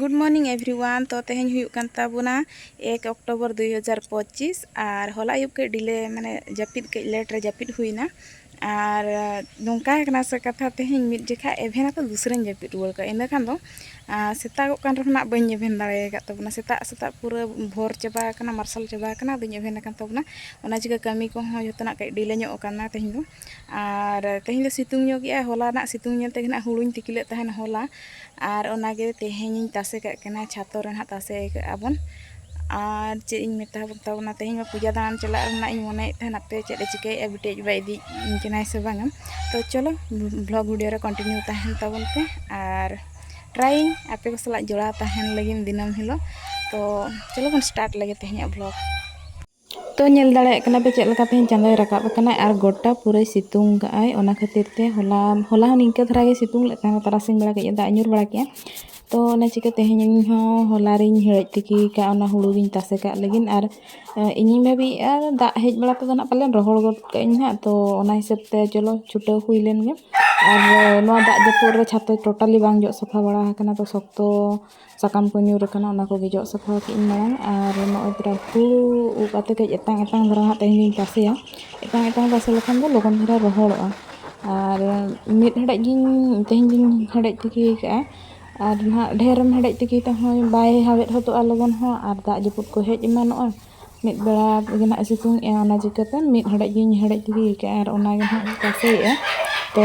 good morning everyone ᱛᱚ ᱛᱮᱦᱮᱧ ᱦᱩᱭᱩᱜ ᱠᱟᱱ ᱛᱟᱵᱚᱱᱟ ᱮᱠ ᱚᱠᱴᱳᱵᱚᱨ ᱫᱩᱭ ᱦᱟᱡᱟᱨ ᱯᱚᱸᱪᱤᱥ ᱟᱨ ᱦᱚᱞᱟ ᱟᱹᱭᱩᱵ ᱠᱟᱹᱡ ᱰᱤᱞᱮ ᱢᱟᱱᱮ ᱡᱟᱹᱯᱤᱫ ᱠᱟᱹᱡ ᱞᱮᱴ ᱨᱮ ᱡᱟᱹᱯᱤᱫ ᱦᱩᱭᱱᱟ ᱟᱨ ᱱᱚᱝᱠᱟ ᱠᱟᱱᱟ ᱥᱮ ᱠᱟᱛᱷᱟ ᱛᱮᱦᱮᱧ ᱢᱤᱫ ᱡᱚᱠᱷᱟ ᱮᱵᱷᱮᱱ ᱟᱛᱮ ᱫᱩᱥᱨᱟᱹᱧ ᱡᱟᱹᱯᱤᱫ ᱨᱩᱣᱟᱹᱲ ᱠᱟᱜᱼᱟ ᱤᱱᱟᱹ ᱠᱷᱟᱱ ᱫᱚ ᱥᱮᱛᱟᱜᱚᱜ ᱠᱟᱱ ᱨᱮᱦᱚᱸ ᱱᱟᱜ ᱵᱟᱹᱧ ᱮᱵᱷᱮᱱ ᱫᱟᱲᱮ ᱟᱠᱟᱫ ᱛᱟᱵᱚᱱᱟ ᱥᱮᱛᱟᱜ ᱥᱮᱛᱟᱜ ᱯᱩᱨᱟᱹ ᱵᱷᱳᱨ ᱪᱟᱵᱟ ᱟᱠᱟᱱᱟ ᱢᱟᱨᱥᱟᱞ ᱪᱟᱵᱟ ᱟᱠᱟᱱᱟ ᱟᱫᱚᱧ ᱮᱵᱷᱮᱱ ᱟᱠᱟᱱ ᱛᱟᱵᱚᱱᱟ ᱚᱱᱟ ᱪᱤᱠᱟᱹ ᱠᱟᱹᱢᱤ ᱠᱚᱦᱚᱸ ᱡᱚᱛᱚᱱᱟᱜ ᱠᱟᱹᱡ ᱰᱤᱞᱮ ᱧᱚᱜ ᱟᱠᱟᱱᱟ ᱛᱮᱦᱮᱧ ᱫᱚ ᱟᱨ ᱛᱮᱦᱮᱧ ᱫᱚ ᱥᱤᱛᱩᱝ ᱧᱚᱜ ᱜᱮᱭᱟ ᱦᱚᱞᱟ ᱨᱮᱱᱟᱜ ᱥᱤᱛᱩᱝ ᱧᱮᱞ ᱛᱮᱜᱮ ᱱᱟᱜ ᱦᱩᱲᱩᱧ ᱛᱤᱠᱤ ᱞᱮᱫ ᱛᱟᱦᱮᱱ ᱦᱚᱞᱟ ᱟᱨ ᱚᱱᱟᱜᱮ ᱛᱮᱦᱮᱧᱤᱧ ᱛᱟᱥᱮ ᱠᱟᱜ ᱠᱟᱱᱟ ᱪᱷᱟᱛᱚ ᱨᱮ ᱱᱟᱜ ᱛᱟᱥᱮ ᱠᱟᱜᱼᱟ ᱵᱚᱱ ᱟᱨ ᱪᱮᱫ ᱤᱧ ᱢᱮᱛᱟ ᱛᱟᱵᱚᱱᱟ ᱛᱮᱦᱮᱧ ᱢᱟ ᱯᱩᱡᱟ ᱫᱟᱬᱟᱱ ᱪᱟᱞᱟᱜ ᱨᱮᱱᱟᱜ ᱤᱧ ᱢᱚᱱᱮᱭᱮᱫ ᱛᱟᱦᱮᱱ ᱟᱯᱮ ᱪᱮᱫ ᱮ ᱪᱤᱠᱟᱹᱭᱮᱫᱼᱟ ᱵᱤᱴᱤ ᱟᱡ ᱵᱟᱵᱟᱭ ᱤᱫᱤᱭᱤᱧ ᱠᱟᱱᱟᱭ ᱥᱮ ᱵᱟᱝᱟ ᱛᱚ ᱪᱚᱞᱚ ᱵᱞᱚᱜ ᱵᱷᱤᱰᱤᱭᱳ ᱨᱮ ᱠᱚᱱᱴᱤᱱᱤᱭᱩ ᱛᱟᱦᱮᱱ ᱛᱟᱵᱚᱱ ᱯᱮ ᱟᱨ ᱴᱨᱟᱭᱤᱝ ᱟᱯᱮ ᱠᱚ ᱥᱟᱞᱟᱜ ᱡᱚᱲᱟᱣ ᱛᱟᱦᱮᱱ ᱞᱟᱹᱜᱤᱫ ᱫᱤᱱᱟᱹᱢ ᱦᱤᱞᱳᱜ ᱛᱚ ᱪᱚᱞᱚ ᱵᱚᱱ ᱥᱴᱟᱨᱴ ᱞᱮᱜᱮ ᱛᱮᱦᱮᱧᱟᱜ ᱵᱞᱚᱜ ᱛᱚ ᱧᱮᱞ ᱫᱟᱲᱮᱭᱟᱜ ᱠᱟᱱᱟ ᱯᱮ ᱪᱮᱫ ᱞᱮᱠᱟ ᱛᱮᱦᱮᱧ ᱪᱟᱸᱫᱚᱭ ᱨᱟᱠᱟᱵ ᱟᱠᱟᱱᱟ ᱟᱨ ᱜᱚᱴᱟ ᱯᱩᱨᱟᱹᱭ ᱥᱤᱛᱩᱝ ᱠᱟᱜ ᱟᱭ ᱚᱱᱟ ᱠᱷᱟᱹᱛᱤᱨ ᱛᱮ ᱦᱚᱞᱟ ᱦᱚᱞᱟ ᱦᱚᱸ ᱱᱤᱝᱠᱟᱹ ᱫᱷᱟᱨᱟ ᱜᱮ ᱥᱤᱛᱩᱝ ᱞᱮᱫ ᱛᱟᱦᱮᱱᱟ ᱛᱟᱨᱟᱥᱤᱧ ᱵᱮᱲᱟ ᱠᱟᱹᱡ ᱫᱟᱜ ᱧᱩᱨ ᱵᱟᱲᱟ ᱠᱮᱜᱼᱟ ᱛᱚ ᱚᱱᱟ ᱪᱤᱠᱟᱹ ᱛᱮᱦᱮᱧ ᱤᱧ ᱦᱚᱸ ᱦᱚᱞᱟ ᱨᱤᱧ ᱦᱮᱰᱮᱡ ᱛᱤᱠᱤ ᱠᱟᱜᱼᱟ ᱚᱱᱟ ᱦᱩᱲᱩ ᱜᱤᱧ ᱛᱟᱥᱮ ᱠᱟᱜ ᱞᱟᱹᱜᱤᱫ ᱟᱨ ᱤᱧᱤᱧ ᱵᱷᱟᱹᱵᱤᱭᱮᱜᱼᱟ ᱫᱟᱜ ᱦᱮᱡ ᱵᱟᱲᱟ ᱛᱮᱫᱚ ᱱᱟᱜ ᱯᱟᱞᱮᱱ ᱨᱚᱦᱚᱲ ᱜᱚᱫ ᱠᱟᱜ ᱟᱹᱧ ᱦᱟᱸᱜ ᱛᱚ ᱚᱱᱟ ᱦᱤᱥᱟᱹᱵ ᱛᱮ ᱪᱚᱞᱚ ᱪᱷᱩᱴᱟᱹᱣ ᱦᱩᱭ ᱞᱮᱱ ᱜᱮ ᱟᱨ ᱱᱚᱣᱟ ᱫᱟᱜ ᱡᱟᱹᱯᱩᱫ ᱨᱮ ᱪᱷᱟᱛᱟ ᱴᱳᱴᱟᱞᱤ ᱵᱟᱝ ᱡᱚᱜ ᱥᱟᱯᱷᱟ ᱵᱟᱲᱟ ᱟᱠᱟᱱᱟ ᱛᱚ ᱥᱚᱠᱛᱚ ᱥᱟᱠᱟᱢ ᱠᱚ ᱧᱩᱨ ᱟᱠᱟᱱᱟ ᱚᱱᱟ ᱠᱚᱜᱮ ᱡᱚᱜ ᱥᱟᱯᱷᱟ ᱠᱮᱫ ᱟᱹᱧ ᱢᱟᱲᱟᱝ ᱟᱨ ᱱᱚᱜᱼᱚᱸᱭ ᱛᱚᱨᱟ ᱦᱩᱲᱩ ᱩᱵ ᱠᱟᱛᱮᱫ ᱠᱟᱹᱡ ᱮᱛᱟᱝ ᱮᱛᱟᱝ ᱫᱷᱟᱨᱟ ᱦᱟᱸᱜ ᱛᱮᱦᱮᱧ ᱫᱚᱧ ᱛᱟᱥᱮᱭᱟ ᱮᱛᱟᱝ ᱮᱛᱟᱝ ᱛᱟᱥᱮ ᱞᱮᱠᱷᱟᱱ ᱫᱚ ᱞᱚᱜᱚᱱ ᱫᱷᱟᱨᱟ ᱨᱚᱦᱚᱲᱚᱜᱼᱟ ᱟᱨ ᱢᱤᱫ ᱦᱮᱰᱮᱡ ᱜᱤᱧ ᱛᱮᱦᱮᱧ ᱫᱚᱧ ᱦᱮᱰᱮᱡ ᱛᱤᱠᱤ ᱠᱟᱜᱼᱟ ᱟᱨ ᱱᱟᱦᱟᱜ ᱰᱷᱮᱹᱨ ᱮᱢ ᱦᱮᱰᱮᱡ ᱛᱤᱠᱤ ᱠᱟᱜ ᱦᱚᱸ ᱵᱟᱭ ᱦᱟᱣᱮᱫ ᱦᱚᱫᱚᱜᱼᱟ ᱞᱚᱜᱚᱱ ᱦᱚᱸ ᱟᱨ ᱫᱟᱜ ᱡᱟᱹᱯᱩᱫ ᱠᱚ ᱦᱮᱡ ᱮᱢᱟᱱᱚᱜᱼᱟ ᱢᱤᱫ ᱵᱮᱲᱟ ᱛᱮᱜᱮ ᱱᱟᱦᱟᱜ ᱥᱤᱛᱩᱝ ᱮᱜᱼᱟ ᱚᱱᱟ ᱪᱤᱠᱟᱹᱛᱮ ᱢᱤᱫ ᱦᱮᱰᱮᱡ ᱜᱤᱧ ᱦᱮᱰᱮᱡ ᱛᱤᱠᱤ ᱠᱟᱜᱼᱟ ᱟᱨ ᱚᱱᱟ ᱜᱮ ᱱᱟᱦᱟᱜ ᱤᱧ ᱛᱟᱥᱮᱭᱮᱜᱼᱟ ᱛᱚ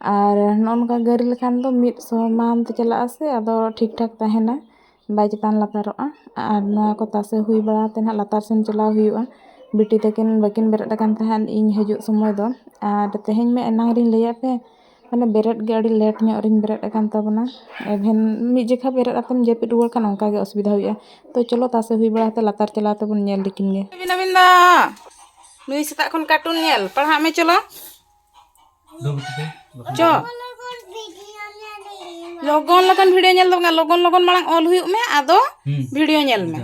ᱟᱨ ᱱᱚᱜᱼᱚ ᱱᱚᱝᱠᱟ ᱜᱟᱹᱨᱤ ᱞᱮᱠᱷᱟᱱ ᱫᱚ ᱢᱤᱫ ᱥᱚᱢᱟᱱ ᱛᱮ ᱪᱟᱞᱟᱜ ᱟᱥᱮ ᱟᱫᱚ ᱴᱷᱤᱠ ᱴᱷᱟᱠ ᱛᱟᱦᱮᱱᱟ ᱵᱟᱭ ᱪᱮᱛᱟᱱ ᱞᱟᱛᱟᱨᱚᱜᱼᱟ ᱟᱨ ᱱᱚᱣᱟ ᱠᱚ ᱛᱟᱥᱮ ᱦᱩᱭ ᱵᱟᱲᱟ ᱠᱟᱛᱮᱫ ᱦᱟᱸᱜ ᱞᱟᱛᱟᱨ ᱥᱮᱱ ᱪᱟᱞᱟᱣ ᱦᱩᱭᱩᱜᱼᱟ ᱵᱤᱴᱤ ᱛᱟᱹᱠᱤᱱ ᱵᱟᱹᱠᱤᱱ ᱵᱮᱨᱮᱫ ᱟᱠᱟᱱ ᱛᱟᱦᱮᱸᱫ ᱤᱧ ᱦᱤᱡᱩᱜ ᱥᱚᱢᱚᱭ ᱫᱚ ᱟᱨ ᱛᱮᱦᱮᱧ ᱢᱟ ᱮᱱᱟᱝ ᱨᱤᱧ ᱞᱟᱹᱭᱟᱫ ᱯᱮ ᱢᱟᱱᱮ ᱵᱮᱨᱮᱫ ᱜᱮ ᱟᱹᱰᱤ ᱞᱮᱴ ᱧᱚᱜ ᱨᱤᱧ ᱵᱮᱨᱮᱫ ᱟᱠᱟᱱ ᱛᱟᱵᱚᱱᱟ ᱮᱵᱷᱮᱱ ᱢᱤᱫ ᱡᱚᱠᱷᱟ ᱵᱮᱨᱮᱫ ᱠᱟᱛᱮᱢ ᱡᱟᱹᱯᱤᱫ ᱨᱩᱣᱟᱹᱲ ᱠᱷᱟᱱ ᱚᱱᱠᱟ ᱜᱮ ᱚᱥᱩᱵᱤᱫᱷᱟ ᱦᱩᱭᱩᱜᱼᱟ ᱛᱳ ᱪᱚᱞᱚ ᱛᱟᱥᱮ ᱦᱩᱭ ᱵᱟᱲᱟ ᱠᱟᱛᱮᱫ ᱞᱟᱛᱟᱨ ᱪᱟᱞᱟᱣ ᱠᱟᱛᱮᱫ ᱵᱚᱱ ᱧᱮᱞ ᱞᱮᱠᱤᱱ ᱜᱮ ᱱᱩᱭ ᱥᱮᱛᱟᱜ ᱠᱷᱚᱱ ᱠᱟᱨᱴᱩᱱ ᱧᱮᱞ ᱯᱟᱲᱦᱟᱜ ᱢᱮ ᱪᱚᱞᱚ ᱪᱚ ᱞᱚᱜᱚᱱ ᱞᱚᱜᱚᱱ ᱵᱷᱤᱰᱤᱭᱳ ᱧᱮᱞ ᱫᱚ ᱵᱟᱝ ᱞᱚᱜᱚᱱ ᱞᱚᱜᱚᱱ ᱢᱟᱲᱟᱝ ᱚᱞ ᱦᱩᱭᱩᱜ ᱢᱮ ᱟᱫᱚ ᱵᱷᱤᱰᱤᱭᱳ ᱧᱮᱞ ᱢᱮ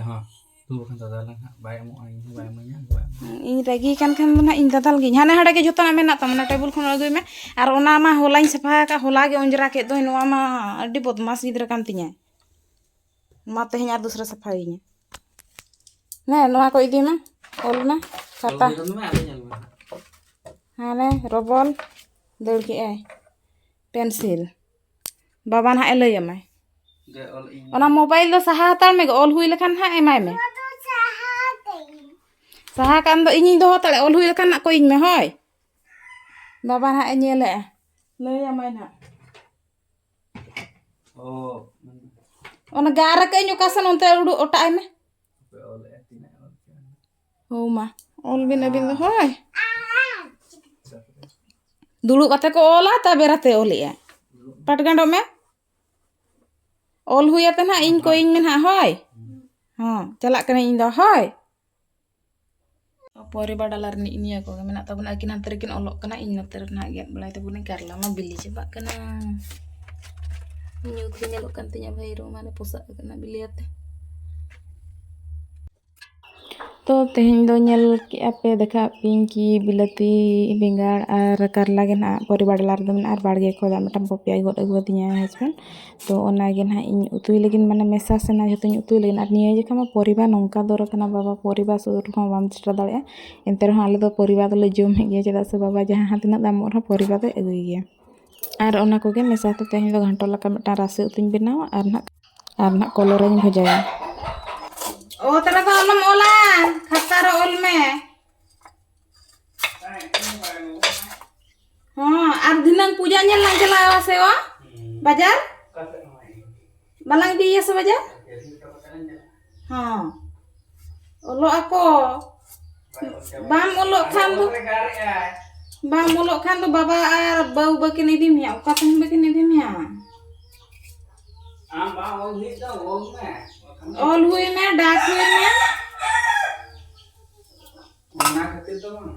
ᱤᱧ ᱨᱟᱹᱜᱤ ᱠᱟᱱ ᱠᱷᱟᱱ ᱫᱚ ᱱᱟᱜ ᱤᱧ ᱫᱟᱫᱟᱞ ᱜᱤᱧ ᱦᱟᱱᱮ ᱦᱟᱸᱰᱮ ᱜᱮ ᱡᱚᱛᱚᱱᱟᱜ ᱢᱮᱱᱟᱜ ᱛᱟᱢᱟ ᱚᱱᱟ ᱴᱮᱵᱩᱞ ᱠᱷᱚᱱ ᱟᱹᱜᱩᱭ ᱢᱮ ᱟᱨ ᱚᱱᱟ ᱢᱟ ᱦᱚᱞᱟᱧ ᱥᱟᱯᱷᱟ ᱟᱠᱟᱫ ᱦᱚᱞᱟ ᱜᱮ ᱚᱸᱡᱽᱨᱟ ᱠᱮᱫ ᱫᱚᱧ ᱱᱚᱣᱟ ᱢᱟ ᱟᱹᱰᱤ ᱵᱚᱫᱢᱟᱥ ᱜᱤᱫᱽᱨᱟᱹ ᱠᱟᱱ ᱛᱤᱧᱟᱹ ᱢᱟ ᱛᱮᱦᱮᱧ ᱟᱨ ᱫᱩᱥᱨᱟᱹ ᱥᱟᱯᱷᱟᱭᱤᱧᱟ ᱱᱮ ᱱᱚᱣᱟ ᱠᱚ ᱤᱫᱤ ᱢᱮ ᱚᱞ ᱢᱮ ᱠᱷᱟᱛᱟ ᱦᱟᱱᱮ ᱨᱚᱵᱚᱞ ᱫᱟᱹᱲ ᱠᱮᱜᱼᱟᱭ ᱯᱮᱱᱥᱤᱞ ᱵᱟᱵᱟ ᱱᱟᱦᱟᱜ ᱮ ᱞᱟᱹᱭ ᱟᱢᱟᱭ ᱚᱱᱟ ᱢᱳᱵᱟᱭᱤᱞ ᱫᱚ ᱥᱟᱦᱟ ᱦᱟᱛᱟᱲ ᱢᱮ ᱚᱞ ᱦᱩᱭ ᱞᱮᱠᱷᱟᱱ ᱱᱟᱦᱟᱜ ᱮᱢᱟᱭ ᱢᱮ ᱥᱟᱦᱟ ᱠᱟᱱ ᱫᱚ ᱤᱧᱤᱧ ᱫᱚᱦᱚ ᱦᱟᱛᱟᱲᱮ ᱚᱞ ᱦᱩᱭ ᱞᱮᱠᱷᱟᱱ ᱱᱟᱜ ᱠᱚᱭᱤᱧ ᱢᱮ ᱦᱳᱭ ᱵᱟᱵᱟ ᱱᱟᱦᱟᱜ ᱮ ᱧᱮᱞᱮᱜᱼᱟ ᱞᱟᱹᱭ ᱟᱢᱟᱭ ᱱᱟᱦᱟᱜ ᱚᱱᱟ ᱜᱟᱨ ᱟᱠᱟᱜ ᱟᱹᱧ ᱚᱠᱟ ᱥᱮᱱ ᱚᱱᱛᱮ ᱩᱰᱩᱠ ᱚᱴᱟᱜ ᱟᱭ ᱢᱮ ᱦᱳ ᱢᱟ ᱚᱞ ᱵᱤᱱ ᱟᱹᱵᱤᱱ ᱫᱚ ᱦᱳᱭ ᱫᱩᱲᱩᱵ ᱠᱟᱛᱮ ᱠᱚ ᱚᱞᱟ ᱛᱟ ᱵᱮᱨᱟᱛᱮ ᱚᱞᱮᱜᱼᱟ ᱯᱟᱴ ᱜᱟᱸᱰᱚᱜ ᱢᱮ ᱚᱞ ᱦᱩᱭ ᱟᱛᱮ ᱱᱟᱦᱟᱜ ᱤᱧ ᱠᱚᱭᱤᱧ ᱢᱮ ᱱᱟᱦᱟᱜ ᱦᱳᱭ ᱦᱚᱸ ᱪᱟᱞᱟᱜ ᱠᱟᱹᱱᱟᱹᱧ ᱤᱧ ᱫᱚ ᱦᱳᱭ ᱯᱚᱨᱤᱵᱟ ᱰᱟᱞᱟ ᱨᱤᱱᱤᱡ ᱱᱤᱭᱟᱹ ᱠᱚᱜᱮ ᱢᱮᱱᱟᱜ ᱛᱟᱵᱚᱱᱟ ᱟᱹᱠᱤᱱ ᱦᱟᱱᱛᱮ ᱨᱮᱠᱤᱱ ᱚᱞᱚᱜ ᱠᱟᱱᱟ ᱤᱧ ᱱᱚᱛᱮ ᱨᱮ ᱱᱟᱦᱟᱜ ᱜᱮᱫ ᱵᱟᱲᱟᱭ ᱛᱟᱵᱚᱱᱟᱹᱧ ᱠᱟᱨᱞᱟ ᱢᱟ ᱵᱤᱞᱤ ᱪᱟᱵᱟᱜ ᱠᱟᱱᱟ ᱧᱩᱛ ᱜᱮ ᱧᱮᱞᱚᱜ ᱠᱟᱱ ᱛᱤᱧᱟ ᱵᱷᱟᱹᱭᱨᱳ ᱢᱟᱱᱮ ᱯᱚᱥᱟᱜ ᱠᱟᱱᱟ ᱵᱤᱞᱤ ᱟᱛᱮ ᱛᱚ ᱛᱮᱦᱮᱧ ᱫᱚ ᱧᱮᱞ ᱠᱮᱜᱼᱟ ᱯᱮ ᱫᱮᱠᱷᱟᱣ ᱯᱮᱭᱟᱹᱧ ᱠᱤ ᱵᱤᱞᱟᱹᱛᱤ ᱵᱮᱸᱜᱟᱲ ᱟᱨ ᱠᱟᱨᱞᱟ ᱜᱮ ᱱᱟᱦᱟᱜ ᱯᱚᱨᱤᱵᱟ ᱰᱟᱞᱟ ᱨᱮᱫᱚ ᱢᱮᱱᱟᱜᱼᱟ ᱟᱨ ᱵᱟᱲᱜᱮ ᱠᱷᱚᱱ ᱢᱤᱫᱴᱟᱝ ᱯᱚᱯᱮᱭᱟᱭ ᱜᱚᱫ ᱟᱹᱜᱩᱣᱟᱫᱤᱧᱟ ᱦᱟᱥᱵᱮᱱᱰ ᱛᱚ ᱚᱱᱟᱜᱮ ᱱᱟᱦᱟᱜ ᱤᱧ ᱩᱛᱩᱭ ᱞᱟᱹᱜᱤᱫ ᱢᱟᱱᱮ ᱢᱮᱥᱟ ᱥᱟᱱᱟ ᱡᱚᱛᱚᱧ ᱩᱛᱩᱭ ᱞᱟᱹᱜᱤᱫ ᱟᱨ ᱱᱤᱭᱟᱹ ᱡᱚᱠᱷᱟᱱ ᱢᱟ ᱯᱚᱨᱤᱵᱟᱨ ᱱᱚᱝᱠᱟ ᱫᱚᱨ ᱠᱟᱱᱟ ᱵᱟᱵᱟ ᱯᱚᱨᱤᱵᱟᱨ ᱥᱩᱨ ᱨᱮᱦᱚᱸ ᱵᱟᱢ ᱥᱮᱴᱮᱨ ᱫᱟᱲᱮᱭᱟᱜᱼᱟ ᱮᱱᱛᱮ ᱨᱮᱦᱚᱸ ᱟᱞᱮ ᱫᱚ ᱯᱚᱨᱤᱵᱟᱨ ᱫᱚᱞᱮ ᱡᱚᱢᱮᱫ ᱜᱮᱭᱟ ᱪᱮᱫᱟᱜ ᱥᱮ ᱵᱟᱵᱟ ᱡᱟᱦᱟᱸ ᱛᱤᱱᱟᱹᱜ ᱫᱟᱢᱚᱜ ᱨᱮᱦᱚᱸ ᱯᱚᱨᱤᱵᱟᱨ ᱫᱚᱭ ᱟᱹᱜᱩᱭ ᱜᱮᱭᱟ ᱟᱨ ᱚᱱᱟ ᱠᱚᱜᱮ ᱢᱮᱥᱟ ᱠᱟᱛᱮᱫ ᱛᱮᱦᱮᱧ ᱫᱚ ᱜᱷᱟᱱᱴᱚ ᱞᱮᱠᱟ ᱢᱤᱫᱴᱟᱝ ᱨᱟᱥᱮ ᱩᱛᱩᱧ ᱵᱮᱱᱟᱣᱟ ᱟᱨ ᱱᱟᱦᱟᱜ ᱟᱨ ᱱᱟᱦᱟᱜ ᱠᱚᱞᱮ ᱨᱤᱧ ᱵᱷᱟᱡᱟᱭᱟ ᱚᱛ ᱨᱮᱫᱚ ᱟᱞᱚᱢ ᱚᱞᱟ ᱠᱷᱟᱛᱟ ᱨᱮ ᱚᱞ ᱢᱮ ᱦᱚᱸ ᱟᱨ ᱫᱷᱤᱱᱟᱹᱝ ᱯᱩᱡᱟ ᱧᱮᱞ ᱞᱟᱝ ᱪᱟᱞᱟᱜᱼᱟ ᱥᱮ ᱚ ᱵᱟᱡᱟᱨ ᱵᱟᱞᱟᱝ ᱤᱫᱤᱭᱮᱭᱟ ᱥᱮ ᱵᱟᱡᱟᱨ ᱦᱚᱸ ᱚᱞᱚᱜ ᱟᱠᱚ ᱵᱟᱢ ᱚᱞᱚᱜ ᱠᱷᱟᱱ ᱫᱚ ᱵᱟᱢ ᱚᱞᱚᱜ ᱠᱷᱟᱱ ᱫᱚ ᱵᱟᱵᱟ ᱟᱨ ᱵᱟᱹᱦᱩ ᱵᱟᱹᱠᱤᱱ ᱤᱫᱤ ᱢᱮᱭᱟ ᱚᱠᱟ ᱛᱮᱦᱚᱸ ᱵᱟᱹᱠᱤᱱ ᱤᱫᱤ ᱢᱮᱭᱟ ᱟᱢ ᱵᱟᱢ ᱚᱞ ᱦᱩᱭᱩᱜ ᱫᱚ ᱚᱞ ᱢᱮ ᱚᱞ ᱦᱩᱭ ᱢᱮ ᱰᱟᱠ ᱦᱩᱭ ᱢᱮ ᱚᱱᱟ ᱠᱷᱟᱹᱛᱤᱨ ᱫᱚ ᱵᱟᱝ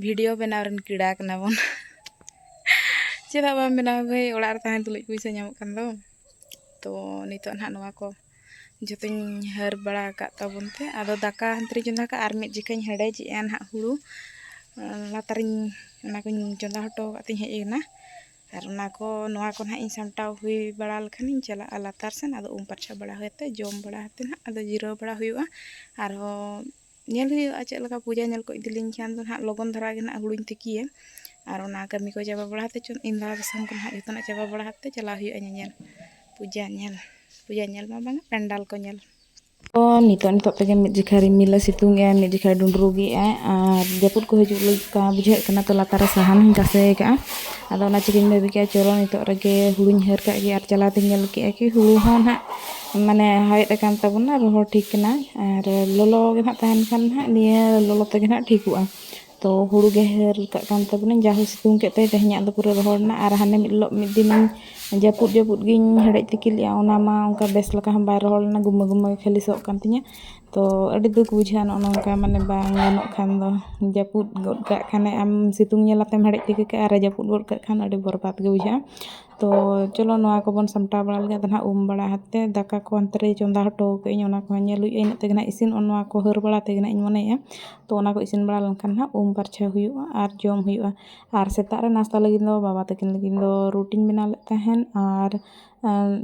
ᱵᱷᱤᱰᱤᱭᱳ ᱵᱮᱱᱟᱣ ᱨᱮᱱ ᱠᱤᱲᱟ ᱠᱟᱱᱟ ᱵᱚᱱ ᱪᱮᱫᱟᱜ ᱵᱟᱢ ᱵᱮᱱᱟᱣ ᱵᱷᱟᱹᱭ ᱚᱲᱟᱜ ᱨᱮ ᱛᱟᱦᱮᱸ ᱛᱩᱞᱩᱡ ᱯᱚᱭᱥᱟ ᱧᱟᱢᱚᱜ ᱠᱟᱱ ᱫᱚ ᱛᱚ ᱱᱤᱛᱚᱜ ᱱᱟᱦᱟᱜ ᱱᱚᱣᱟ ᱠᱚ ᱡᱚᱛᱚᱧ ᱦᱟᱹᱨ ᱵᱟᱲᱟ ᱟᱠᱟᱫ ᱛᱟᱵᱚᱱ ᱛᱮ ᱟᱫᱚ ᱫᱟᱠᱟ ᱦᱟᱱᱛᱨᱮ ᱪᱚᱸᱫᱟ ᱠᱟᱜ ᱟᱨ ᱢᱤᱫ ᱡᱚᱠᱷᱟᱧ ᱦᱮᱰᱮᱡᱮᱜᱼᱟ ᱱᱟᱦᱟᱜ ᱦᱩᱲᱩ ᱞᱟᱛᱟᱨᱤᱧ ᱚᱱᱟ ᱠᱚᱧ ᱪᱚᱸᱫᱟ ᱦᱚᱴᱚ ᱟᱠᱟᱫ ᱛᱤᱧ ᱦᱮᱡ ᱮᱱᱟ ᱟᱨ ᱚᱱᱟ ᱠᱚ ᱱᱚᱣᱟ ᱠᱚ ᱱᱟᱦᱟᱜ ᱤᱧ ᱥᱟᱢᱴᱟᱣ ᱦᱩᱭ ᱵᱟᱲᱟ ᱞᱮᱠᱷᱟᱱᱤᱧ ᱪᱟᱞᱟᱜᱼᱟ ᱞᱟᱛᱟᱨ ᱥᱮᱱ ᱟᱫᱚ ᱩᱢ ᱯᱟᱨᱪᱷᱟ ᱵᱟᱲᱟ ᱦᱩᱭ ᱠᱟᱛᱮᱫ ᱡᱚᱢ ᱵᱟᱲᱟ ᱠᱟᱛᱮᱫ ᱱᱟᱦᱟᱜ ᱟᱫᱚ ᱡᱤᱨᱟᱹᱣ ᱵᱟᱲᱟ ᱦᱩᱭᱩᱜᱼᱟ ᱟᱨᱦᱚᱸ ᱧᱮᱞ ᱦᱩᱭᱩᱜᱼᱟ ᱪᱮᱫ ᱞᱮᱠᱟ ᱯᱩᱡᱟ ᱧᱮᱞ ᱠᱚ ᱤᱫᱤ ᱞᱤᱧ ᱠᱷᱟᱱ ᱫᱚ ᱱᱟᱦᱟᱜ ᱞᱚᱜᱚᱱ ᱫᱷᱟᱨᱟ ᱜᱮ ᱱᱟᱦᱟᱜ ᱦᱩᱲᱩᱧ ᱛᱤᱠᱤᱭᱟ ᱟᱨ ᱚᱱᱟ ᱠᱟᱹᱢᱤ ᱠᱚ ᱪᱟᱵᱟ ᱵᱟᱲᱟ ᱠᱟᱛᱮᱫ ᱪᱚᱝ ᱤᱧ ᱫᱟᱫᱟ ᱥᱟᱝ ᱠᱚ ᱱᱟᱦᱟᱜ ᱡᱚᱛᱚᱱᱟᱜ ᱪᱟᱵᱟ ᱵᱟᱲᱟ ᱠᱟᱛᱮᱫ ᱪᱟᱞᱟᱣ ᱦᱩᱭᱩᱜᱼᱟ ᱧᱮᱧᱮᱞ ᱯᱩᱡᱟ ᱧᱮᱞ ᱯᱩᱡᱟ ᱧᱮᱞ ᱢᱟ ᱵᱟᱝᱟ ᱯᱮᱱᱰᱟᱞ ᱠᱚ ᱧᱮᱞ ᱛᱚ ᱱᱤᱛᱚᱜ ᱱᱤᱛᱚᱜ ᱛᱮᱜᱮ ᱢᱤᱫ ᱡᱚᱠᱷᱟ ᱨᱤᱢᱤᱞᱮ ᱥᱤᱛᱩᱝ ᱮᱜᱼᱟ ᱢᱤᱫ ᱡᱚᱠᱷᱟ ᱰᱩᱸᱰᱨᱩᱜᱽ ᱮᱜᱼᱟᱭ ᱟᱨ ᱡᱟᱹᱯᱩᱫ ᱠᱚ ᱦᱤᱡᱩᱜ ᱞᱮᱠᱟ ᱵᱩᱡᱷᱟᱹᱜ ᱠᱟᱱᱟ ᱛᱚ ᱞᱟᱛᱟᱨ ᱨᱮ ᱥᱟᱦᱟᱱ ᱦᱚᱧ ᱛᱟᱥᱮ ᱟᱠᱟᱫᱼᱟ ᱟᱫᱚ ᱚᱱᱟ ᱪᱤᱠᱟᱹᱧ ᱵᱷᱟᱹᱵᱤ ᱠᱮᱫᱼᱟ ᱪᱚᱞᱚ ᱱᱤᱛᱚᱜ ᱨᱮᱜᱮ ᱦᱩᱲᱩᱧ ᱦᱟᱹᱨ ᱠᱟᱜ ᱜᱮ ᱟᱨ ᱪᱟᱞᱟᱣ ᱛᱤᱧ ᱧᱮᱞ ᱠᱮᱫᱼᱟ ᱠᱤ ᱦᱩᱲᱩ ᱦᱚᱸ ᱱᱟᱦᱟᱜ ᱢᱟᱱᱮ ᱦᱟᱣᱮᱫ ᱟᱠᱟᱱ ᱛᱟᱵᱚᱱᱟ ᱨᱚᱦᱚᱲ ᱴᱷᱤᱠ ᱠᱟᱱᱟ ᱟᱨ ᱞᱚᱞᱚ ᱜᱮ ᱱᱟᱦᱟᱜ ᱛᱟᱦᱮᱱ ᱠᱷᱟᱱ ᱱᱟᱦᱟᱜ ᱱᱤᱭᱟᱹ ᱞᱚᱞᱚ ᱛᱮᱜᱮ ᱱᱟᱦᱟᱜ ᱴᱷᱤᱠᱚᱜᱼᱟ ᱛᱚ ᱦᱩᱲᱩ ᱜᱮ ᱦᱟᱹᱨ ᱠᱟᱜ ᱠᱟᱱ ᱛᱟᱵᱚᱱᱟᱹᱧ ᱡᱟ ᱦᱚᱭ ᱥᱤᱛᱩᱝ ᱠᱮᱫ ᱛᱮ ᱛᱮᱦᱮᱧᱟᱜ ᱫᱚ ᱯᱩᱨᱟᱹ ᱨᱚᱦᱚᱲ ᱮᱱᱟ ᱟᱨ ᱦᱟᱱᱮ ᱢᱤᱫ ᱦᱤᱞᱳᱜ ᱢᱤᱫ ᱫᱤᱱ ᱡᱟᱹᱯᱩᱫ ᱡᱟᱹᱯᱩᱫ ᱜᱤᱧ ᱦᱮᱰᱮᱡ ᱛᱤᱠᱤ ᱞᱮᱫᱼᱟ ᱚᱱᱟ ᱢᱟ ᱚᱱᱠᱟ ᱵᱮᱥ ᱞᱮᱠᱟ ᱦᱚᱸ ᱵᱟᱭ ᱨᱚᱦᱚᱲ ᱞᱮᱱᱟ ᱜᱩᱢᱟᱹ ᱜᱩᱢᱟᱹ ᱜᱮ ᱠᱷᱟᱹᱞᱤ ᱥᱚᱜ ᱠᱟᱱ ᱛᱤᱧᱟᱹ ᱛᱚ ᱟᱹᱰᱤ ᱫᱩᱠ ᱵᱩᱡᱷᱟᱹᱜᱼᱟ ᱱᱚᱜᱼᱚ ᱱᱚᱝᱠᱟ ᱢᱟᱱᱮ ᱵᱟᱝ ᱜᱟᱱᱚᱜ ᱠᱷᱟᱱ ᱫᱚ ᱡᱟᱹᱯᱩᱫ ᱜᱚᱫ ᱠᱟᱜ ᱠᱷᱟᱱᱮ ᱟᱢ ᱥᱤᱛᱩᱝ ᱧᱮᱞ ᱠᱟᱛᱮᱢ ᱦᱮᱰᱮᱡ ᱛᱤᱠᱤ ᱠᱟᱜᱼᱟ ᱟᱨᱮ ᱡᱟᱹᱯᱩᱫ ᱜᱚᱫ ᱠᱟᱜ ᱠᱷᱟᱱ ᱟᱹᱰᱤ ᱵᱚᱨᱵᱟᱫᱽ ᱜᱮ ᱵᱩᱡᱷᱟᱹᱜᱼᱟ ᱛᱚ ᱪᱚᱞᱚ ᱱᱚᱣᱟ ᱠᱚᱵᱚᱱ ᱥᱟᱢᱴᱟᱣ ᱵᱟᱲᱟ ᱞᱮᱜᱮ ᱟᱫᱚ ᱱᱟᱦᱟᱜ ᱩᱢ ᱵᱟᱲᱟ ᱠᱟᱛᱮᱫ ᱫᱟᱠᱟ ᱠᱚ ᱚᱱᱛᱮ ᱨᱮ ᱪᱚᱸᱫᱟ ᱦᱚᱴᱚ ᱠᱟᱜ ᱟᱹᱧ ᱚᱱᱟ ᱠᱚᱦᱚᱸ ᱧᱮᱞ ᱦᱩᱭᱩᱜᱼᱟ ᱤᱱᱟᱹᱜ ᱛᱮᱜᱮ ᱱᱟᱦᱟᱜ ᱤᱥᱤᱱᱚᱜᱼᱟ ᱱᱚᱣᱟ ᱠᱚ ᱦᱟᱹᱨ ᱵᱟᱲᱟ ᱛᱮᱜᱮ ᱱᱟᱦᱟᱜ ᱤᱧ ᱢᱚᱱᱮᱭᱮᱫᱼᱟ ᱛᱚ ᱚᱱᱟ ᱠᱚ ᱤᱥᱤᱱ ᱵᱟᱲᱟ ᱞᱮᱱᱠᱷᱟᱱ ᱱᱟᱦᱟᱜ ᱩᱢ ᱯᱷᱟᱨᱪᱷᱟ ᱦᱩᱭᱩᱜᱼᱟ ᱟᱨ ᱡᱚᱢ ᱦᱩᱭᱩᱜᱼᱟ ᱟᱨ ᱥᱮᱛᱟᱜ ᱨᱮ ᱱᱟᱥᱛᱟ ᱞᱟᱹᱜᱤᱫ ᱫᱚ ᱵᱟᱵᱟ ᱛᱟᱹᱠᱤᱱ ᱞᱟᱹᱜᱤᱫ ᱫᱚ ᱨᱩᱴᱤᱧ ᱵᱮᱱᱟᱣ ᱞᱮᱫ ᱛᱟᱦᱮᱱ ᱟᱨ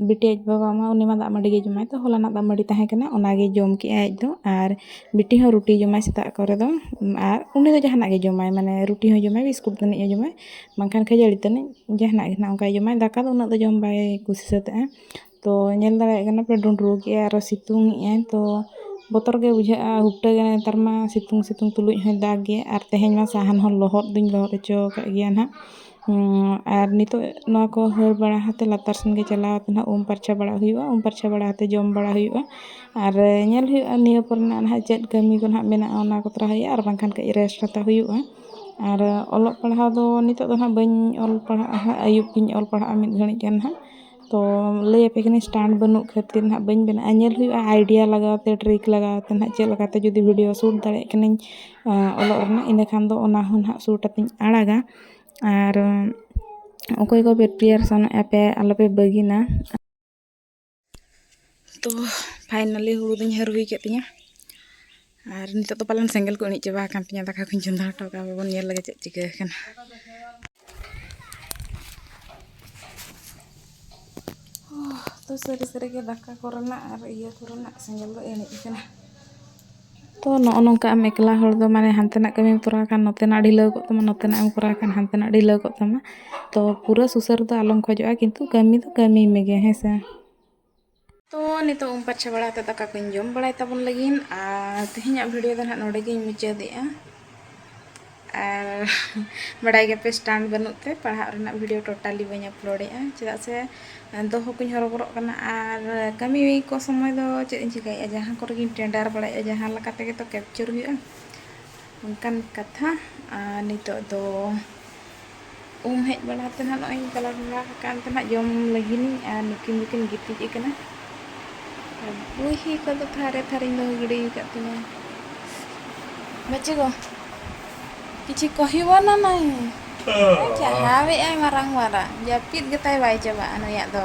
ᱵᱤᱴᱤ ᱟᱡ ᱵᱟᱵᱟ ᱢᱟ ᱩᱱᱤ ᱢᱟ ᱫᱟᱜ ᱢᱟᱹᱰᱤ ᱜᱮᱭ ᱡᱚᱢᱟ ᱛᱚ ᱦᱚᱞᱟᱱᱟᱜ ᱫᱟᱜ ᱢᱟᱹᱰᱤ ᱛᱟᱦᱮᱸ ᱠᱟᱱᱟ ᱚᱱᱟ ᱜᱮᱭ ᱡᱚᱢ ᱠᱮᱫᱼᱟᱭ ᱟᱡ ᱫᱚ ᱟᱨ ᱵᱤᱴᱤ ᱦᱚᱸ ᱨᱩᱴᱤᱭ ᱡᱚᱢᱟᱭ ᱥᱮᱛᱟᱜ ᱠᱚᱨᱮ ᱫᱚ ᱟᱨ ᱩᱱᱤ ᱫᱚ ᱡᱟᱦᱟᱱᱟᱜ ᱜᱮᱭ ᱡᱚᱢᱟᱭ ᱢᱟᱱᱮ ᱨᱩᱴᱤ ᱦᱚᱸᱭ ᱡᱚᱢᱟᱭ ᱵᱤᱥᱠᱩᱴ ᱛᱟᱹᱱᱤᱡ ᱦᱚᱸᱭ ᱡᱚᱢᱟᱭ ᱵᱟᱝᱠᱷᱟᱱ ᱠᱷᱟᱹᱡᱟᱹᱲᱤ ᱛᱟᱹᱱᱤᱡ ᱡᱟᱦᱟᱱᱟᱜ ᱜᱮ ᱱᱟᱦᱟᱜ ᱚᱱᱠᱟᱭ ᱡᱚᱢᱟ ᱫᱟᱠᱟ ᱫᱚ ᱩᱱᱟᱹᱜ ᱫᱚ ᱡᱚᱢ ᱵᱟᱭ ᱠᱩᱥᱤ ᱥᱟᱹᱛᱟᱜᱼᱟ ᱛᱚ ᱧᱮᱞ ᱫᱟᱲᱮᱭᱟᱜ ᱠᱟᱱᱟ ᱯᱮ ᱰᱩᱸᱰᱨᱩ ᱠᱮᱫᱼᱟᱭ ᱟᱨᱚ ᱥᱤᱛᱩᱝ ᱮᱫᱼᱟᱭ ᱛᱚ ᱵᱚᱛᱚᱨ ᱜᱮ ᱵᱩᱡᱷᱟᱹᱜᱼᱟ ᱦᱩᱴᱟᱹ ᱜᱮ ᱱᱮᱛᱟᱨ ᱢᱟ ᱥᱤᱛᱩᱝ ᱥᱤᱛᱩᱝ ᱛᱩᱞᱩᱡ ᱦᱚᱸᱭ ᱫᱟᱜᱽ ᱜᱮ ᱟᱨ ᱛᱮᱦᱮᱧ ᱢᱟ ᱥᱟᱦᱟᱱ ᱦᱚᱸ ᱞᱚᱦᱚᱫ ᱫᱩᱧ ᱞᱚᱦᱚᱫ ᱦᱚᱪᱚ ᱟᱠᱟᱫ ᱜᱮᱭᱟ ᱱᱟᱦᱟᱜ ᱟᱨ ᱱᱤᱛᱚᱜ ᱱᱚᱣᱟ ᱠᱚ ᱦᱟᱹᱨ ᱵᱟᱲᱟ ᱠᱟᱛᱮᱫ ᱞᱟᱛᱟᱨ ᱥᱮᱱ ᱜᱮ ᱪᱟᱞᱟᱣ ᱠᱟᱛᱮᱫ ᱱᱟᱦᱟᱜ ᱩᱢ ᱯᱷᱟᱨᱪᱟ ᱵᱟᱲᱟᱜ ᱦᱩᱭᱩᱜᱼᱟ ᱩᱢ ᱯᱷᱟᱨᱪᱟ ᱵᱟᱲᱟ ᱠᱟᱛᱮᱫ ᱡᱚᱢ ᱵᱟᱲᱟ ᱦᱩᱭᱩᱜᱼᱟ ᱟᱨ ᱧᱮᱞ ᱦᱩᱭᱩᱜᱼᱟ ᱱᱤᱭᱟᱹ ᱯᱚᱨᱮ ᱱᱟᱦᱟᱜ ᱪᱮᱫ ᱠᱟᱹᱢᱤ ᱠᱚ ᱱᱟᱦᱟᱜ ᱢᱮᱱᱟᱜᱼᱟ ᱚᱱᱟ ᱠᱚ ᱛᱚᱨᱟᱣ ᱦᱩᱭᱩᱜᱼᱟ ᱟᱨ ᱵᱟᱝᱠᱷᱟᱱ ᱠᱟᱹᱡ ᱨᱮᱥᱴ ᱦᱟᱛᱟᱣ ᱦᱩᱭᱩᱜᱼᱟ ᱟᱨ ᱚᱞᱚᱜ ᱯᱟᱲᱦᱟᱣ ᱫᱚ ᱱᱤᱛᱚᱜ ᱫᱚ ᱦᱟᱸᱜ ᱵᱟᱹᱧ ᱚᱞ ᱯᱟᱲᱦᱟᱜᱼᱟ ᱦᱟᱸᱜ ᱟᱹᱭᱩᱵ ᱜᱤᱧ ᱚᱞ ᱯᱟᱲᱦᱟᱜᱼᱟ ᱢᱤᱫ ᱜᱷᱟᱹᱲᱤᱡ ᱜᱟᱱ ᱦᱟᱸᱜ ᱛᱚ ᱞᱟᱹᱭ ᱟᱯᱮ ᱠᱟᱹᱱᱟᱹᱧ ᱥᱴᱮᱱᱰ ᱵᱟᱹᱱᱩᱜ ᱠᱷᱟᱹᱛᱤᱨ ᱦᱟᱸᱜ ᱵᱟᱹᱧ ᱵᱮᱱᱟᱣᱮᱜᱼᱟ ᱧᱮᱞ ᱦᱩᱭᱩᱜᱼᱟ ᱟᱭᱰᱤᱭᱟ ᱞᱟᱜᱟᱣ ᱛᱮ ᱴᱨᱤᱠ ᱞᱟᱜᱟᱣ ᱛᱮ ᱦᱟᱸᱜ ᱪᱮᱫ ᱞᱮᱠᱟᱛᱮ ᱡᱩᱫᱤ ᱵᱷᱤᱰᱤᱭᱳ ᱥᱩᱴ ᱫᱟᱲᱮᱭᱟᱜ ᱠᱟᱹᱱᱟᱹᱧ ᱚᱞᱚᱜ ᱨᱮᱱᱟᱜ ᱤᱱᱟᱹ ᱠᱷᱟᱱ ᱫᱚ ᱚᱱᱟ ᱦᱚᱸ ᱦᱟᱸᱜ ᱥᱩᱴ ᱠᱟᱛᱮᱧ ᱟᱲᱟᱜᱟ ᱟᱨ ᱚᱠᱚᱭ ᱠᱚᱯᱮ ᱯᱨᱤᱯᱟᱨᱮᱥᱚᱱᱚᱜ ᱟᱯᱮ ᱟᱞᱚᱯᱮ ᱵᱟᱹᱜᱤᱱᱟ ᱛᱚ ᱯᱷᱟᱭᱱᱟᱞᱤ ᱦᱩᱲᱩ ᱫᱚᱧ ᱦᱟᱹᱨ ᱦᱩᱭ ᱠᱮᱫ ᱛᱤᱧᱟᱹ ᱟᱨ ᱱᱤᱛᱚᱜ ᱫᱚ ᱯᱟᱞᱮᱱ ᱥᱮᱸᱜᱮᱞ ᱠᱚ ᱤᱬᱤᱡ ᱪᱟᱵᱟ ᱟᱠᱟᱱ ᱛᱤᱧᱟᱹ ᱫᱟᱠᱟ ᱠᱚᱧ ᱪᱚᱸᱫᱟ ᱦᱚᱴᱚ ᱠᱟᱜᱼᱟ ᱵᱟᱵᱚᱱ ᱧᱮᱞ ᱞᱮᱜᱮ ᱪᱮᱫ ᱪᱤᱠᱟᱹ ᱟᱠᱟᱱᱟ ᱛᱚ ᱥᱟᱹᱨᱤ ᱥᱟᱹᱨᱤᱜᱮ ᱫᱟᱠᱟ ᱠᱚᱨᱮᱱᱟᱜ ᱟᱨ ᱤᱭᱟᱹ ᱠᱚᱨᱮᱱᱟᱜ ᱥᱮᱸᱜᱮᱞ ᱫᱚ ᱤᱬᱤᱡ ᱟᱠᱟᱱᱟ ᱛᱚ ᱱᱚᱜᱼᱚ ᱱᱚᱝᱠᱟ ᱟᱢ ᱮᱠᱞᱟ ᱦᱚᱲ ᱫᱚ ᱢᱟᱱᱮ ᱦᱟᱱᱛᱮᱱᱟᱜ ᱠᱟᱹᱢᱤᱢ ᱠᱚᱨᱟᱣ ᱠᱷᱟᱱ ᱱᱚᱛᱮᱱᱟᱜ ᱰᱷᱤᱞᱟᱹᱣ ᱠᱚᱜ ᱛᱟᱢᱟ ᱱᱚᱛᱮᱱᱟᱜ ᱮᱢ ᱠᱚᱨᱟᱣ ᱠᱷᱟᱱ ᱦᱟᱱᱛᱮᱱᱟᱜ ᱰᱷᱤᱞᱟᱹᱣ ᱠᱚᱜ ᱛᱟᱢᱟ ᱛᱚ ᱯᱩᱨᱟᱹ ᱥᱩᱥᱟᱹᱨ ᱫᱚ ᱟᱞᱚᱢ ᱠᱷᱚᱡᱚᱜᱼᱟ ᱠᱤᱱᱛᱩ ᱠᱟᱹᱢᱤ ᱫᱚ ᱠᱟᱹᱢᱤ ᱢᱮᱜᱮ ᱦᱮᱸ ᱥᱮ ᱛᱚ ᱱᱤᱛᱚᱜ ᱩᱢ ᱯᱷᱟᱨᱪᱟ ᱵᱟᱲᱟ ᱠᱟᱛᱮᱫ ᱫᱟᱠᱟ ᱠᱚᱧ ᱡᱚᱢ ᱵᱟᱲᱟᱭ ᱛᱟᱵᱚᱱ ᱞᱟᱹᱜᱤᱫ ᱟᱨ ᱛᱮᱦᱮᱧᱟᱜ ᱵᱷᱤᱰᱤᱭᱳ ᱫᱚ ᱱᱟᱦᱟᱜ ᱱᱚᱰᱮ ᱜᱤᱧ ᱢᱩᱪᱟᱹᱫᱮᱜᱼᱟ ᱟᱨ ᱵᱟᱰᱟᱭ ᱜᱮᱯᱮ ᱥᱴᱟᱱᱰ ᱵᱟᱹᱱᱩᱜ ᱛᱮ ᱯᱟᱲᱦᱟᱜ ᱨᱮᱱᱟᱜ ᱵᱷᱤᱰᱤᱭᱳ ᱴᱳᱴᱟᱞᱤ ᱵᱟᱹᱧ ᱟᱯᱞᱳᱰᱮᱜᱼᱟ ᱪᱮᱫᱟᱜ ᱥᱮ ᱫᱚᱦᱚ ᱠᱚᱧ ᱦᱚᱨᱚᱵᱚᱨᱚᱜ ᱠᱟᱱᱟ ᱟᱨ ᱠᱟᱹᱢᱤ ᱠᱚ ᱥᱚᱢᱚᱭ ᱫᱚ ᱪᱮᱫ ᱤᱧ ᱪᱤᱠᱟᱹᱭᱮᱜᱼᱟ ᱡᱟᱦᱟᱸ ᱠᱚᱨᱮ ᱜᱤᱧ ᱴᱮᱱᱰᱟᱨ ᱵᱟᱲᱟᱭᱮᱜᱼᱟ ᱡᱟᱦᱟᱸ ᱞᱮᱠᱟ ᱛᱮᱜᱮ ᱛᱚ ᱠᱮᱯᱪᱟᱨ ᱦᱩᱭᱩᱜᱼᱟ ᱚᱱᱠᱟᱱ ᱠᱟᱛᱷᱟ ᱟᱨ ᱱᱤᱛᱚᱜ ᱫᱚ ᱩᱢ ᱦᱮᱡ ᱵᱟᱲᱟ ᱠᱟᱛᱮ ᱱᱟᱦᱟᱜ ᱱᱚᱜᱼᱚᱭ ᱤᱧ ᱠᱟᱞᱟᱨ ᱵᱟᱲᱟ ᱟᱠᱟᱱ ᱛᱮ ᱱᱟᱦᱟᱜ ᱡᱚᱢ ᱞᱟᱹᱜᱤᱫᱤᱧ ᱟᱨ ᱱᱩᱠᱤᱱ ᱫᱚᱠᱤᱱ ᱜᱤᱛᱤᱡ ᱟᱠᱟᱱᱟ ᱟᱨ ᱵᱩᱦᱤ ᱠᱚᱫᱚ ᱛᱷᱟᱨᱮ ᱛᱷᱟᱨᱮᱧ ᱫᱚᱦᱚ ᱜᱤᱰᱤ ᱟᱠᱟᱫ ᱛᱤᱧᱟᱹ ᱵᱟᱪᱮ ᱜᱚ ᱠᱤᱪᱷᱩ ᱠᱚᱦᱤᱵᱚᱱᱟ ᱱᱟᱭ ᱪᱟᱦᱟᱣᱮᱫᱼᱟᱭ ᱢᱟᱨᱟᱝ ᱢᱟᱨᱟᱝ ᱡᱟᱹᱯᱤᱫ ᱜᱮᱛᱟᱭ ᱵᱟᱭ ᱪᱟᱵᱟᱜᱼᱟ ᱱᱩᱭᱟᱜ ᱫᱚ